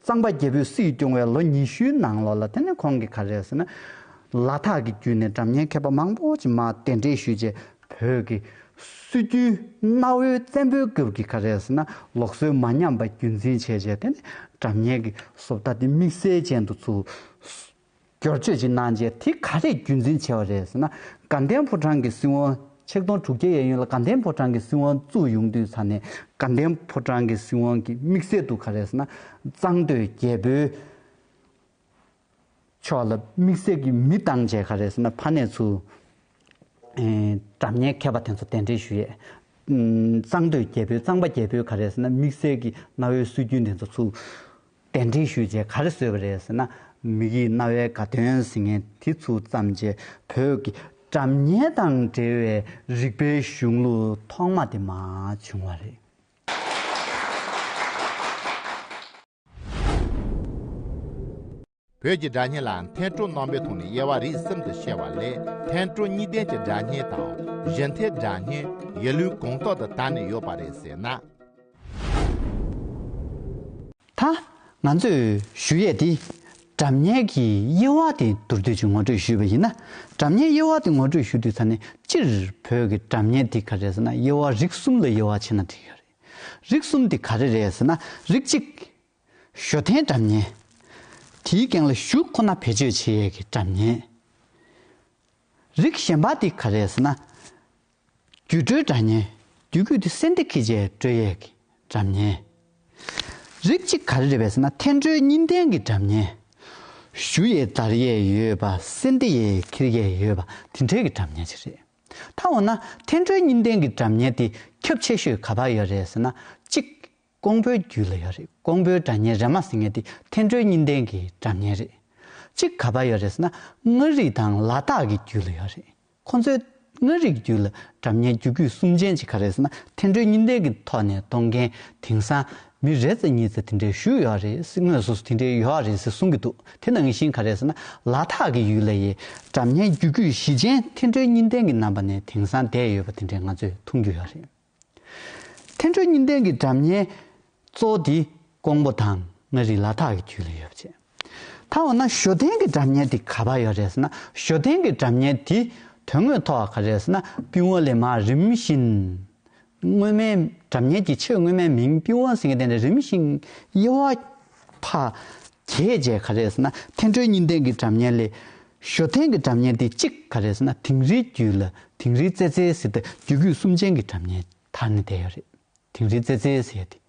གཙང་པ་རྒྱལ་པོས་སྲིད་སྐྱོང་བའི་ལོ་ཉི་ཤུའི་ནང་ལོགས་ལ་དེ་ནས་ཁོང་གིས་ག་རེ་ཟེར་ན། ལ་དྭགས་ཀྱི་རྒྱུད་ནས་སྒྲ་བརྙན་མཁས་པ་མང་པོ་ཅིག་མ་གདན་འདྲེན་ཞུས་རྗེས་བོད་ཀྱི་སྲོལ་རྒྱུན་གནའ་བོའི་བཙན་པོའི་སྐབས་ཀྱི་ཁ་རས་ན་ལོག་སྲོལ་མ་ཉམས་པ་རྒྱུན་འཛིན་བྱས་རྗེས་དེ་ནས་དྲ་བརྙན་གྱི་སོབ་ལྟ་དེ་དམིགས་བསལ་ཅན་དུ་ཚུར་སྐྱོར་བཅོས་ཅིག་གནང་རྗེས་དེ་ག་རེ་རྒྱུན་འཛིན་བྱས་པ་རེད་ཟེར་ན་དགའ་ལྡན་ཕོ་བྲང་གི་སྲིད་དབང་ཆིག་སྟོང་དྲུག་བརྒྱ་ཡས་ཡུན་ལ་དགའ་ལྡན་ཕོ་བྲང་གི་སྲིད་དབང་བཙུགས་ཡོང་དུས་ཚར་ནས་དགའ་ལྡན་ཕོ་བྲང་གི་སྲིད་དབང་གི་དམིགས་བསལ་དུ་ག་རེ་ཟེར་ན་གཙང་སྟོད་རྒྱལ་པོའི་ཆོག་ལ་དམིགས་བསལ་གྱི་མི་བཏང་བྱས་ག་རེ་ཟེར་ན་ཕ་ནས་ཚུར་གྲབས་ཉེས་མཁས་པ་དེ་ཚོ་གདན་འདྲེན་ཞུ་ཡས། གཙང་སྟོད་རྒྱལ་པོའི་གཙང་པ་རྒྱལ་པོས་ག་རེ་ཟེར་ན་དམིགས་བསལ་གྱི་གནའ་བོའི་སྲོལ་རྒྱུན་དེ་ཚོ་ཚུར་གདན་འདྲེན་ཞུས་བྱས་ག་རེ་བཟོས་པ་རེད་ཟེར་ན་མིག་ཡིད་རྣ་བའི་དགའ་སྟོན་ཟིན་ངན་དེ་ཚུར་བརྩམས་བྱས་བོད་ཀྱི་གྲབས་ཉེས་དང་འབྲེལ་བའི་རིག་པའི་གཞུང་ལུགས་ཐོག་མ་དེ་མ་བྱུང་བ་རེད། བོད་ཀྱི་སྒྲ་སྙན་ལ་མཐའི་སྤྲོ་སྣང་པའི་ཐོག་ནས་དབྱེ་བ་རིས་གསུམ་དུ་བཤད་པ་ལས་མཐའི་སྤྲོ་གཉིས་ལྡན་གྱི་སྒྲ་སྙན་དང་གཞན་མཐའི་སྒྲ་སྙན་ཡེ་ལུའི་དགོངས་རྟོགས་དུ་དར་ནས་ཡོད་པ་རེད་ཟེར་ན། ད་ང་ཚོས་ཞུ་ཡས་དེ་སྒྲ་སྙན་གྱི་དབྱེ་བ་དེ་མདོར་བསྡུས་ཀྱིས་ངོ་སྤྲོད་ཞུས་པ་ཡིན་ན་སྒྲ་སྙན་དབྱེ་བ་དེ་ངོ་སྤྲོད་ཞུ་དུས་ད་ནི་སྤྱིར་བོད་ཀྱི་སྒྲ་སྙན་དེ་ག་རེ་ཟེར་ན་དབྱེ་བ་རིགས་གསུམ་ལ་དབྱེ་བ་ཕྱེ་ན་འགྲིག་ཡོད་རེད། རིགས་གསུམ་དེ་ག་རེ་རེད་ཟེར་ན་རིགས་གཅིག། ཞོ་ཐན་སྒྲ་མཉན། དེའི་གན་ལ་ཞུགས་ཁོ་ན་བེད་སྤྱོད་བྱེད་ཡས་ཀྱི་སྒྲ་མཉན། རིགས་གཞན་པ་དེ་ག་རེད་ཟེར་ན། རྒྱུད་གྲོལ་སྒྲ་མཉན་རྒྱུད་རྒྱུད་དེ་སེམས་སྡེ་ཁེ་བྱས་གྲོལ་ཡས་ཀྱི་སྒྲ་མཉན། རིགས་གཅིག་ག་རེ་རེད་བས་ཟེར་ན་ཐན་གྲོལ་གཉིས་ལྡན་གྱི་སྒྲ་མཉན། ཞུ་ཡས་དར་ཡས་ཡོད་པ་སེམས་སྡེ་ཡས་ཁེར་ཡས་ཡོད་པ་དེ་འདྲས་ཀྱི་སྒྲ་མཉན་ཅིག་རེད། ད་འོ་ན་ཐན་ཀྲོའི་གཉིས་ལྡན་གྱི་གྲབས་ཉལ་དེ་ཁྱབ་ཆེ་ཤོས་ག་བར་ཡོད་རེད་ཟེར་ན་གཅིག། ཀོང་པོའི་རྒྱུད་ལ་ཡོད་རེད་ཀོང་པོའི་གྲབས་ཉལ་རེ་མ་ཟེར་ངེས་དེ་ཐན་ཀྲོའི་གཉིས་ལྡན་གྱི་གྲབས་ཉལ་རེད། གཅིག་ག་བར་ཡོད་རེད་ཟེར་ན་མངའ་རིས་དང་ལ་དྭགས་ཀྱི་རྒྱུད་ལ་ཡོད་རེད་ཁོང་ཚོའི། མངའ་རིས་ཀྱི་རྒྱུད་ལ་གྲབས་ཉལ་རྒྱུད་སྐུད་གསུམ་ཅན་གཅིག་ག་རེད་ཟེར་ན་ཐན་ཀྲོའི་གཉིས་ལྡན་གྱི་ཐོག་ནས་གཏོང་མཁན་དེང་སང་མི་རེ་ཚེ་གཉིས་ཚེ་དེ་འདྲའི་ཞུ་ཡོད་རེད་ཟེར་དངོས་སུ་དེ་འདྲའི་ཡོད་རེད་ཟེར་གསུང་གི་འདུག་དེ་ནང་བཞིན་ག་རེད་ཟེར་ན་ལ་དྭགས་ཀྱི་ཡུལ་ལ་ཡི་དམ་ཉན་རྒྱུ་རྒྱུད་བཞི་ཅན་ཐེ་འགྲོའི་གཉིས་ལྡན་གྱི་རྣམ་པ་ནས་དེང་སང་བསྡད་ཡོད་པ་དེ་འདྲའི་ང་ཚོས་མཐོང་རྒྱུ་ཡོད་རེད། ཐེ་འགྲོའི་གཉིས་ལྡན་གྱི་དམ་ཉན་གཙོ་བོ་དེ་ཀོང་པོ་དང་མངའ་རིས་ལ་དྭགས་ཀྱི་རྒྱུད་ལ་ཡོད་པ་བཅས། ད་འོ་ན་ཞོ་སྟན་གྱི་གྲབས་གཉེར་དེ་ག་བ་ཡོད་རེད་ཟེར་ན་ཞོ་སྟན་གྱི་གྲབས་གཉེར་དེ་དོན་དངོས་ཐོག་ག་རེད་ཟེར་ན་པིན་ཝོ་ལེ་མ་རིམ་བཞིན་སྔོན་མའི་གྲབས་གཉེར་གྱི་ཆེས་སྔོན་མའི་མིང་པིན་ཝོ་ཟེར་མཁན་དེ་ནས་རིམ་བཞིན་དབྱེ་བ་ཕ་གས་རྗེས་ག་རེད་ཟེར་ན་ཐེན་ཁྲོན་གཉིས་ལྡན་གྱི་གྲབས་གཉེར་ལས་ཞོ་སྟན་གྱི་གྲབས་གཉེར་དེ་གཅིག་ག་རེད་ཟེར་ན་དིང་རིའི་རྒྱུད་ལ་དིང་རིའི་རྩེ་རྩེའི་སི་ཏུ་རྒྱུད་རྒྱུད་གསུམ་ཅན་གྱི་གྲབས་གཉེར། ད་ནི་དེ་ཡོད་རེད། དིང་རི་རྩེ་རྩེའི་ཟེར་ཏེ།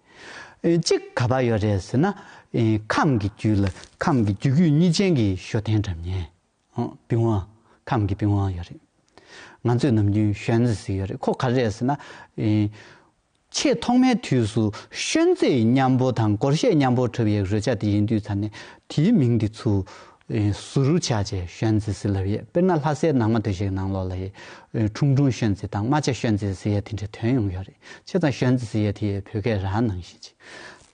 གཅིག་ག་པར་ཡོད་རེད་ཟེར་ན། ཁམས་ཀྱི་རྒྱུད་ལ་ཁམས་ཀྱི་རྒྱུད་རྒྱུད་གཉིས་ཅན་གྱི་ཞོ་སྟེང་འགྲམ་ཉེ། པིང་བ། ཁམས་ཀྱི་པིང་བ་ཡོད་རེད། ང་ཚོས་ནམ་རྒྱུན་ཤོན་རྩེ་ཟེར་ཡོད་རེད་ཁོ་ག་རེ་རེད་ཟེར་ན། ཆེས་ཐོག་མའི་དུས་སུ་ཤོན་རྩེ་ཡི་མཉམ་པོ་དང་གོར་ཤའི་མཉམ་པོར་གྲུབ་ཡའི་རོལ་ཆ་དེ་ཡིན་དུས་ཚར་ནས་དེའི་མིང་དེ་ཚུར་སུ་རུ་བྱ་བྱེད་ཤོན་རྩི་སི་ལབ་ཡེ་དཔེར་ན་ལྷ་སའི་ནང་མ་དུ་ཞིག་ནང་ལོག་ལ་ཡེ། ཁྲུང་ཁྲུང་ཤོན་རྩི་དང་རྨ་བྱ་ཤོན་རྩི་སི་ཡེ་དེ་འདྲའི་དོན་ཡོང་གི་ཡོད་རེད་ཕྱེད་ཙང་ཤོན་རྩི་སི་ཡེ་དེ་བོད་སྐད་རང་ནང་བཞིན་ཅིག་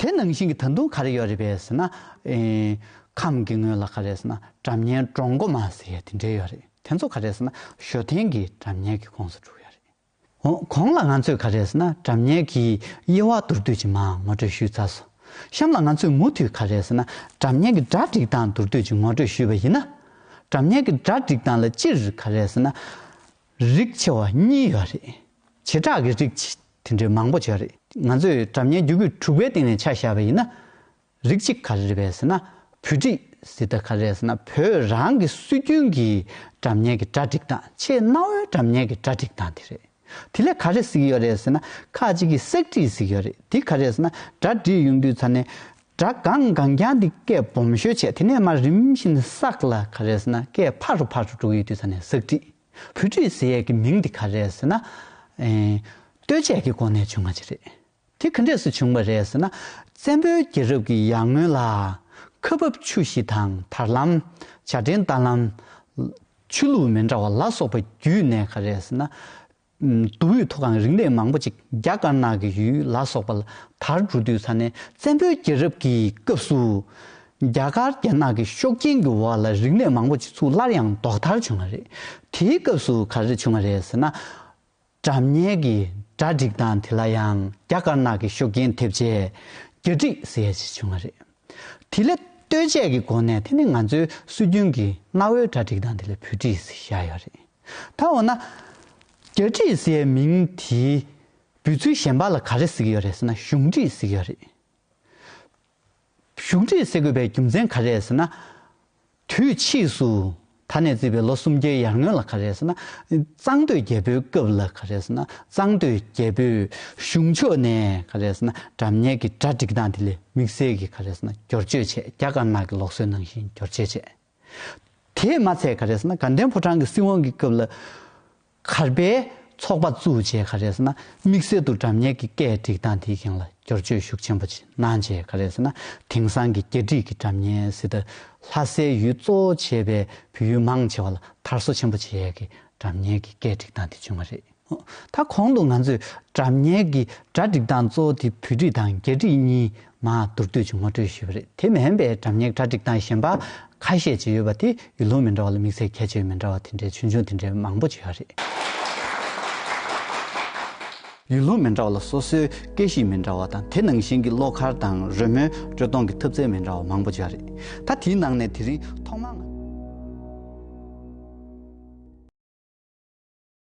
དེ་ནང་བཞིན་གྱི་ད་དུང་ག་རེ་ཡོད་རེད་པས་ཟེར་ན། ཁམས་ཀྱི་ངོས་ལ་ག་རེ་ཟེར་ན་གྲམ་སྙན་འབྲོང་མགོ་མ་སི་ཡེ་དེ་འདྲའི་ཡོད་རེད་དེ་ཚོ་ག་རེ་ཟེར་ན་ཞོ་ཐན་གྱི་གྲམ་སྙན་གྱི་ཁོངས་སུ་འགྲུག་ཡོད་རེད། གོང་ལ་ང་ཚོས་ག་རེ་ཟེར་ན་དྲ་བརྙན་གྱི་དབྱེ་བ་མདོར་བསྡུས་ཀྱི་མ་ངོ་སྤྲོད་ཞུས་ཚར་སོང། གཤམ་ལ་ང་ཚོས་མུ་མཐུད་ག་རེ་ཟེར་ན་དྲ་བརྙན་གྱི་གྲ་སྒྲིག་སྟངས་མདོར་བསྡུས་ཀྱི་ངོ་སྤྲོད་ཞུས་པ་ཡིན་ན། དྲ་བརྙན་གྱི་གྲ་སྒྲིག་སྟངས་ལ་སྤྱིར་ག་རེ་ཟེར་ན། རིགས་ཆེ་བ་གཉིས་ཡོད་རེད། བྱེ་བྲག་གི་རིགས། དེ་འདྲའི་མང་པོ་བྱས་རེད། ང་ཚོས་དྲ་བརྙན་རྒྱུ་སྤུས་དྲུག་པའི་སྟེང་ནས་ཆ་བཞག་པ་ཡིན་ན། རིགས་གཅིག་ཁ་རེ་བས་ཟེར་ན་བོད་སྒྲིག་ཟེར་ད་ཁ་རེས་ཟེར་ན་བོད་རང་གི་སྲོལ་རྒྱུན་གྱི་དྲ་བརྙན་གྱི་གྲ་སྒྲིག་སྟངས་ཆེས་གནའ་བོའི་དྲ་བརྙན་གྱི་གྲ་སྒྲིག་སྟངས་དེ་རེད། དེ་ལས་ག་རེ་གཟིགས་ཡོད་རེད་ཟེར་ན་ཁ་ཅིག་གིས་གསེག་བྲིས་གཟིགས་ཡོད་རེད་དེ་ག་རེ་ཟེར་ན་གྲ་སྒྲིག་ཡོང་དུས་ཚར་ནས་སྒྲ་གང་གང་རྐྱང་དེ་སྐད་སྦོམ་ཤོས་བྱས་དེ་ནས་མར་རིམ་བཞིན་གསག་ལ་ག་རེ་ཟེར་ན་སྐད་ཕར་རུ་ཕར་རུ་འགྲོ་གི་ཡོད་དུས་ཚར་ནས་གསེག་བྲིས། བོད་སྒྲིག་ཟེར་ཡས་ཀྱི་མིང་དེ་ག་རེ་ཟེར་ན། ལྟོས་བཅས་ཀྱི་སྒོ་ནས་བྱུང་ང་ཅི་རེད། དེ་ག་འདྲས་སུ་བྱུང་བ་རེད་ཟེར་ན། བཙན་པོའི་རྒྱལ་རབས་ཀྱི་ཡར་སྔོན་ལ། ཁ་འབབ་ཆུ་བཞི་དང་དར་ལམ། བྱ་འདྲེན་རྟ་ལམ། ཆུ་ལུག་མེ་འདྲ་བ་ལ་སོགས་པ་བརྒྱུད་ནས་ག་རེད་ཟེར་ན། མདོ་དབུས་མཐོ་སྒང་རིག་གནས་མང་པོ་ཅིག་རྒྱ་དཀར་ནག་གི་ཡུལ་ལ་སོགས་པ་ལ་དར་འགྲོ་དུས་ས་ནས་བཙན་པོའི་རྒྱལ་རབས་ཀྱི་སྐབས་སུ། རྒྱ་དཀར་རྒྱ་ནག་གི་ཤོག་རྐྱེན་གྱི་འོག་ལ་རིག་གནས་མང་པོ་ཅིག་ཚུར་སླར་ཡང་ལྡོག་ཐར་བྱུང་བ་རེད། དེའི་སྐབས་སུ་ག་རེ་བྱུང་བ་རེད་ཟེར་ན། དྲ་བརྙན་གྱི་གྲ་སྒྲིག་སྟངས་དེ་ལ་ཡང་རྒྱ་དཀར་ནག་གི་ཤོག་རྒྱན་ཐེབས་རྗེས་གྱ་སྒྲིག་ཟེར་ཡ་ཞིག་བྱུང་བ་རེད། དེ་ལས་ལྟོས་བཅས་ཀྱི་སྒོ་ནས་དེ་ནི་ང་ཚོའི་སྲོལ་རྒྱུན་གྱི་གནའ་བོའི་གྲ་སྒྲིག་སྟངས་དེ་ལས་བུད་སྒྲིག་ཟེར་བཞག་ཡོད་རེད། ད་འོ་ན། གྱ་སྒྲིག་ཟེར་བའི་མིང་དེའི་འབོད་ཚུལ་གཞན་པ་ལ་ག་རེ་ཟེར་གྱི་ཡོད་རེད་ཟེར་ན་གཞུང་སྒྲིག་ཟེར་གྱི་ཡོད་རེད། གཞུང་འབྲེལ་ཟས་གོས་པའི་རྒྱུ་མཚན་ག་རེད་ཟེར་ན། དུས་ཕྱིས་སུ་ད་ནས་བརྩིས་པའི་ལོ་སུམ་བརྒྱའི་ཡར་སྔོན་ལ་ག་རེད་ཟེར་ན། གཙང་སྟོད་རྒྱལ་པོའི་སྐབས་ལ་ག་རེད་ཟེར་ན་གཙང་སྟོད་རྒྱལ་པོས་གཞུང་ཕྱོགས་ནས་ག་རེད་ཟེར་ན་དགྲ་གཉེན་གྱི་གྲ་སྒྲིག་སྟངས་དེ་ལས་དམིགས་བསལ་གྱིས་ག་རེད་ཟེར་ན་སྒྱོར་བཅོས་བྱས་རྒྱ་དཀར་ནག་གི་ལོག་སྲོལ་ནང་བཞིན་སྒྱོར་བཅོས་བྱས། དེས་མ་ཚད་ག་རེ་ཟེར་ན་དགའ་ལྡན་ཕོ་བྲང་གི་སྲིད་དབང་གི་སྐབས་ལ། གར་པའི་ཚོགས་པ་བཙུགས་རྗེས་ག་རེ་ཟེར་ན་དམིགས་བསལ་དུ་འདྲ་མཉེལ་གྱི་སྐད་སྒྲིག་སྟངས་དེའི་སྒང་ལ་བསྒྱུར་བཅོས་ཤུགས་ཆེན་པོ་ཅིག་གནང་རྗེས་ག་རེ་ཟེར་ན་དེང་སང་གི་སྐད་སྒྲིག་གི་འདྲ་མཉེལ་སྲིད་དར་ལྷ་སའི་ཡུལ་གཙོ་བོ་བྱས་པའི་བོད་ཡུལ་མང་ཆེ་བ་ལ་དར་སོ་ཆེན་པོ་བྱས་ཀྱི་འདྲ་མཉེལ་གྱི་སྐད་སྒྲིག་སྟངས་དེ་བྱུང་བ་རེད། ད་གོང་དུ་ང་ཚོས་དྲ་བརྙན་གྱི་གྲ་སྒྲིག་སྟངས་གཙོ་བོ་དེ་བོད་བྲིས་དང་རྒྱ་བྲིས་གཉིས་མ་མདོར་བསྡུས་ཀྱིས་ངོ་སྤྲོད་ཞུས་པ་རེད་དེ་མིན་པའི་དྲ་བརྙན་གྲ་སྒྲིག་སྟངས་གཞན་པ་ཁ་ཤས་ཅིག་ཡོད་པ་དེ་ཡུལ་ལུང་མི་འདྲ་བ་ལ་དམིགས་བསལ་ཁྱད་ཆོས་མི་འདྲ་བ་དེ་འདྲའི་ཆུང་ཆུང་དེ་འདྲའི་མང་པོ་ཅིག་ཡོད་རེད། ཡུལ་ལུང་མི་འདྲ་བ་ལ་སོ་སོའི་སྐད་གཤིས་མི་འདྲ་བ་དང་དེ་ནང་བཞིན་གྱི་བློ་ཁར་དང་རོལ་མོའི་དཀྲོལ་གཏོང་གི་ཐུབ་ཚད་མི་འདྲ་བ་མང་པོ་ཅིག་ཡོད་རེད་ད་དེའི་ནང་ནས་དེ་རིང་ཐོག་མར་ང།